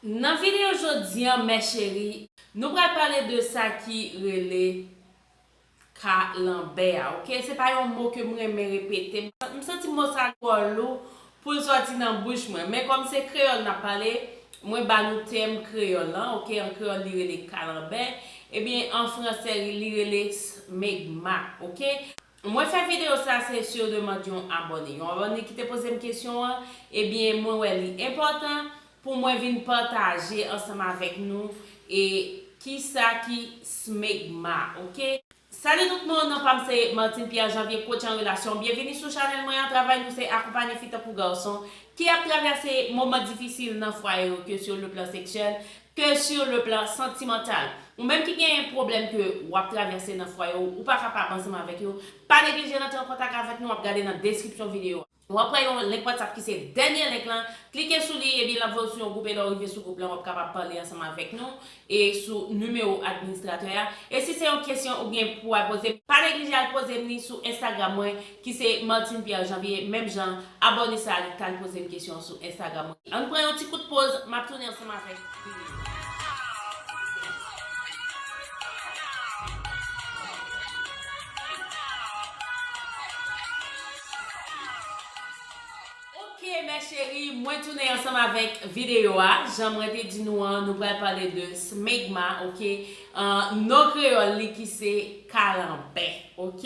Nan video jodi an mè cheri. Nou pral pale de sa ki rele ka lanbè a ok se pa yon mo ke m renmen repete m santi mo sa twò lou pou l sòti nan bouch mwen men kòm se kreyòl n ap pale mwen ba nou tèm kreyòl lan ok an kreyòl li rele kalanbè ebyen an fransè li rele smegma ok Mwen fè video sa se sur demande yon abòne. Yon abòne ki te poze m kesyon an, ebyen mwen wè li enpòtan pou mwen vin pataje ansanm avèk nou e kisa ki smegma ok. Salut tout moun, non pam se Martine Pierre Janvier coach en relation. Byenvini sou chanèl mwen an, travay nou se akonpanye fi tankou garson ki ap travèse moman difisil nan fwaye yo ke sur le plan sexuel, ke sur le plan santimantal. Ou menm ki genyen pwoblèm ke wap travèse nan fwaye w, ou pa ka pa ansanm avèk yo, pa neglije rantre an kontak avèk nou, wap gade nan deskripsyon videyo a. Wap wè yon link WhatsApp ki se dènye link lan, klike sou li ebyen lap voye w sou yon gwoup e lè w rive sou gwoup lan wap kapab pale ansanm avèk nou e sou nimewo administratè a. E si se yon kesyon ou gen pou al poze, pa neglije al poze m li sou Instagram mwen ki se Martine Pierre Janvier menm jan abòne sa li t al poze m kesyon sou Instagram mwen ann pran yon ti kout poz map tounen ansanm avèk video a. Ok mes cheries mwen tounen ansanm avèk video a jan mwen te di nou an nou pral pale de smegma ok Ahh non kreyòl li ki se kalanbè ok.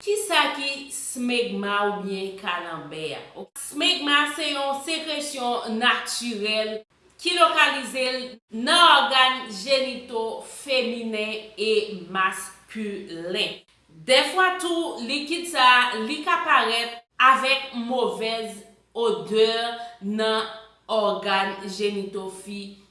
Kisa ki smegma oubyen kalanbè a ok. Smegma se yon sekresyon natirèl ki lokalize l nan ògàn jenito feminen e maskilen. Dèfwa tou likid sa li ka parèt avèk movèz odè nan ògàn jenito fi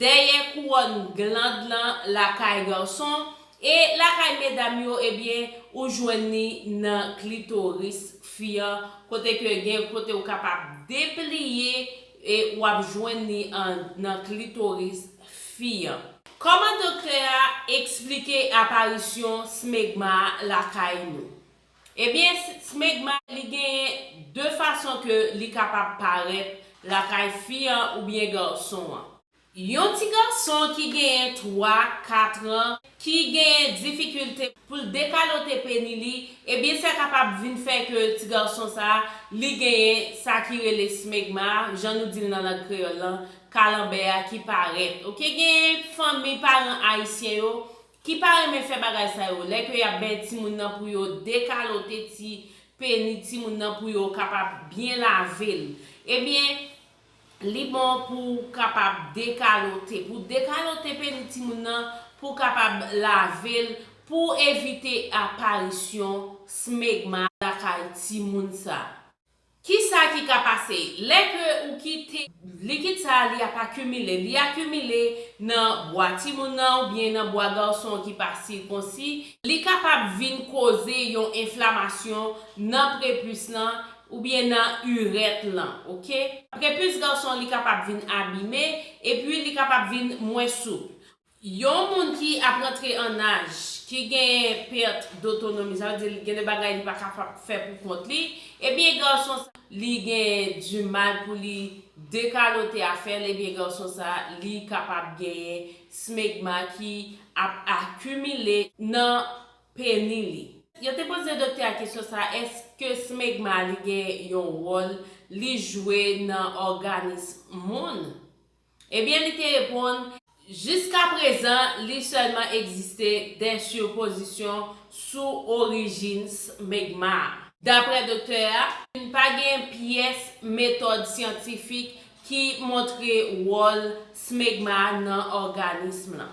dèyè kouwòn gland lan lakay garson e lakay medam yo ebyen ou jwenn li nan klitoris fi an kote ke gen kote ou kapab depliye e wap jwenn li an nan klitoris fi an. Kòman doktè a eksplike aparisyon smegma lakay nou? Ebyen smegma li genyen 2 fason ke li kapab parèt lakay fi an oubyen garson an. Yon ti garson ki genyen 3, 4 an ki genyen difikilte poul dekalote peni li ebyen sa kapab vin fè ke ti garson sa li genyen sa ki rele smegma jan nou dil nan lang kreyòl lan kalanbè a ki parèt ok genyen fanmi paran ayisyen yo ki pa renmen fè bagay sa yo, lè ke yap bay timoun nan pou yo dekalote ti peni timoun nan pou yo kapab byen lave l, ebyen li bon pou w kapab dekalote, pou w dekalote peni timoun nan pou w kapab lave l pou w evite aparisyon smegma lakay timoun sa. Kisa ki ka pase lè ke ou kite likid sa a li ap akimile, li akimile nan bwa timoun nan oubyen nan bwa garson ki pa sikonsi, li kapab vin koze yon enflamasyon nan prepus lan oubyen nan urèt lan ok. Prepus garson li kapab vin abime epi li kapab vin mwen souple. Yon moun ki ap rantre an naj, ki genyen pèt dotonomi, sa vle di gen de bagay li pa kapab fè pou kont li, ebyen gason sa, li gen di mal pou li dekalote afè l, ebyen gason sa li kapab genyen smegma ki ap akimile nan peni li. Yo te poze doktè a kesyon sa, èske smegma li gen yon wòl li jwe nan òganis moun? Ebyen li te reponn, Jiska prezan li sèlman egziste de sipozisyon sou orijin smegma a. Daprè doktè a, pa gen pyès metòd syantifik ki montre wòl smegma a nan òganism lan.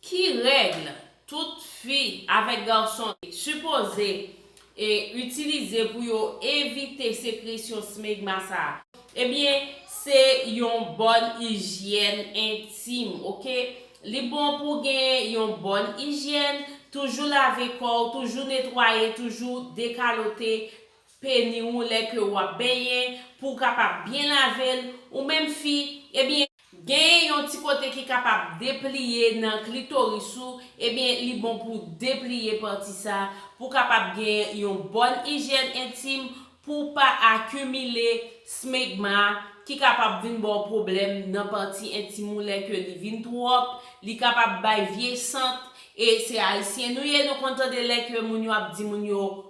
Ki règl tout fi avèk garson sipoze itilize pou yo evite sekresyon smegma sa? Ebyen se yon bòn ijyèn entim ok li bon pou gen yon bòn ijyèn toujou lave kòw toujou netwaye toujou dekalote Peni ou lè ke wap benyen, pou w kapab byen lave l, ou menm fi, ebyen, genyen yon ti kote ki kapab depliye nan klitoris ou, ebyen li bon pou w depliye pati sa, pou w kapab genyen yon bòn ijyèn entim, pou w pa akimile smegma ki kapab vin ba w pwoblèm nan pati entim ou lè ke li vin twòp, li kapab bay vye sant, e se ayisyen nou ye nou konn tande lè ke moun yo ap di moun yo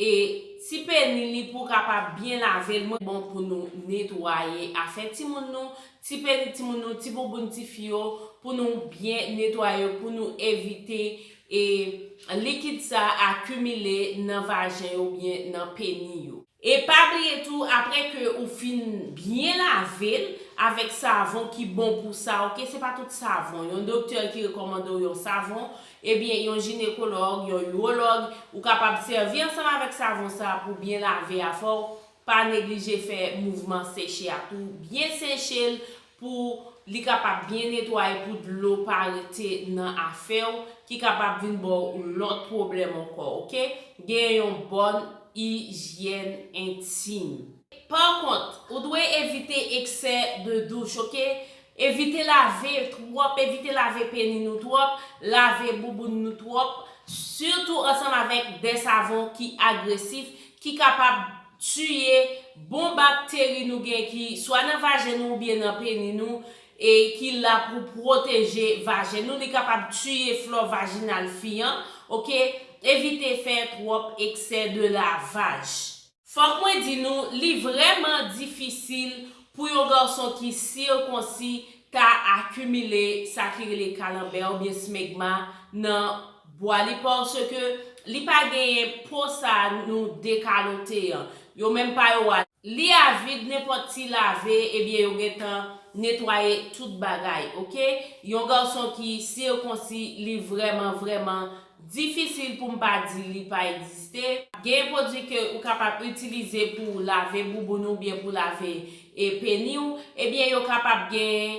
E ti peni li pou kapab byen lave l mwen. Bon pou nou netwaye afè timoun nou, ti peni timoun nou, ti bouboun ti fi yo pou nou byen netwaye yo pou nou evite e likid sa akimile nan vajen yo oubyen nan peni yo. E pa bliye tou aprè ke ou fin byen lave l avèk savon ki bon pou sa ok se pa tout savon yon doktè ki rekòmande w yon savon Ebyen yon jinekològ, yon urològ, ou kapab sèvi ansanm avèk savon sa pou byen lave afè w, pa neglije fè mouvman seche a tou, byen seche l pou li kapab byen netwaye pou dlo pa rete nan afè w ki kapab vin ba w lòt pwoblèm ankò ok, genyen yon bòn ijyèn entim. Par kont, ou dwe evite eksè de douch ok, Evite lave twòp, evite lave peni nou twòp, lave bouboun nou twòp, sitou ansanm avèk de savon ki agresif ki kapab tiye bon bakteri nou gen ki swa nan vajen nou oubyen nan peni nou e ki la pou pwoteje vajen nou, li kapab tiye flò vajinal fi an, ok, evite fè twòp eksè de lavaj. Fòk mwen di nou, li vrèman difisil pou yon garson ki sirkonsi ta akimile sa ki rele kalanbè oubyen smegma nan bwa li paske li pa genyen po sa nou dekalote an. Yo menm pa yo a, li avid nenpòt ti lave ebyen yo gentan netwaye tout bagay ok. Yon garson ki sirkonsi li vrèman vrèman Difisil pou m pa di li pa egziste. Gen pwodui ke ou kapab itilize pou w lave bouboun ou oubyen pou w lave e peni w, ebyen yo kapab gen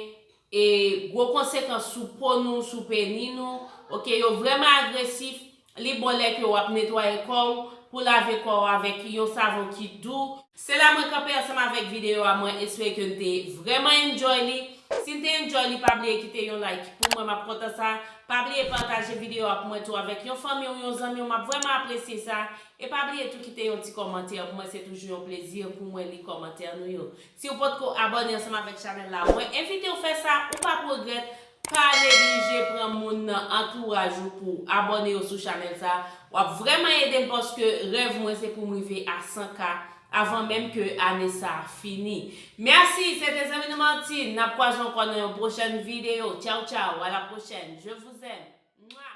e gwo konsekans sou po nou, sou peni nou, ok yo vrèman agresif, li bon lè ke w ap netwaye kò w, pou w lave kò w avèk yon savon ki dou, Se la mwen kanpe ansanm avèk video a mwen espere ke n te vrèman enjoy li si n te enjoy li pa bliye kite yon like pou mwen map kontan sa pa bliye pataje video a pou mwen tou avèk yon fanmi w yon zanmi w map vrèman apresye sa e pa bliye tou kite yon ti kòmantè pou mwen se toujou yon plezi pou mwen li kòmantè nou yo si w potko abòne ansanm avèk chanèl la mwen envite w fè sa ou pap regrèt Pa neglije pran moun nan antouraj ou pouw abòne yo sou chanèl sa, wap vrèman edem paske rèv mwen se poum rive a 100 k avan menm ke ane sa fini. Merci se te zanmi nou Martine, nap kwaze ankò nan yon pwochèn video, tchao tchao à la prochaine, je vous aime. Mouah.